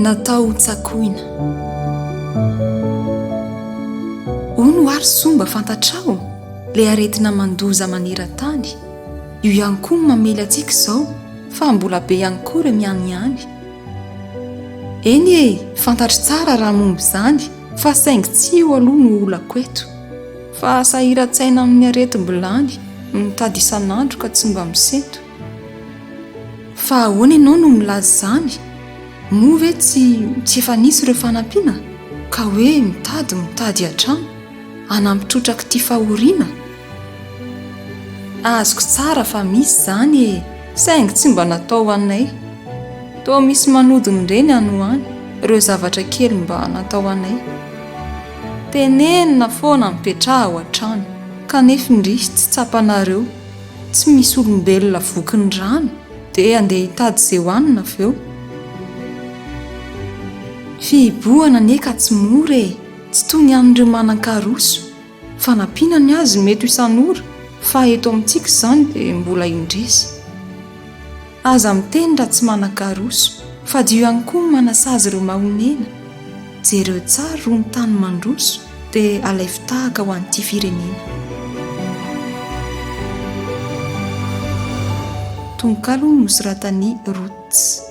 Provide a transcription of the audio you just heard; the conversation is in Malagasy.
Natao ho tsakoina. Ono ary soa mba fantatrao ilay aretina mandoza maneran-tany, io ihany koa no mamely antsika izao fa mbola be ihany koa ireo mianiany. Eny e, fantatro tsara raha momba izany fa saingy tsy io aloha no olako eto. Fa sahiran-tsaina amin'ny aretim-bilany no mitady isan'andro ka tsy mba misento. Fa ahoana ianao no milaza izany? Moa ve tsy tsy efa nisy ireo fanampiana ka hoe mitady mitady hatrany hanampy trotrak'ity fahoriana? Azoko tsara fa misy izany e! Saingy tsy mba natao ho anay. Toa misy manodina ireny any ho any ireo zavatra kely mba natao ho anay. Tenenina foana mipetraha ao an-trano kanef ndrisy tsy tsapanareo tsy misy olombelona voky ny rano de andeha hitady ze hohanina avy eo? Fihibohana anie ka tsy mora e! Tsy toy ny an'ireo manan-karoso, fanampiana ny azy mety ho isan'ora fa eto amintsika izany de mbola indrisy. Aza miteny raha tsy manan-karoso, fa dio ihany koa ny manasazy ireo mahonena. Jereo tsara roa ny tany mandroso, dia alaivo tahaka ho an'ity firenena. Tononkalo nosoratan'i Roots.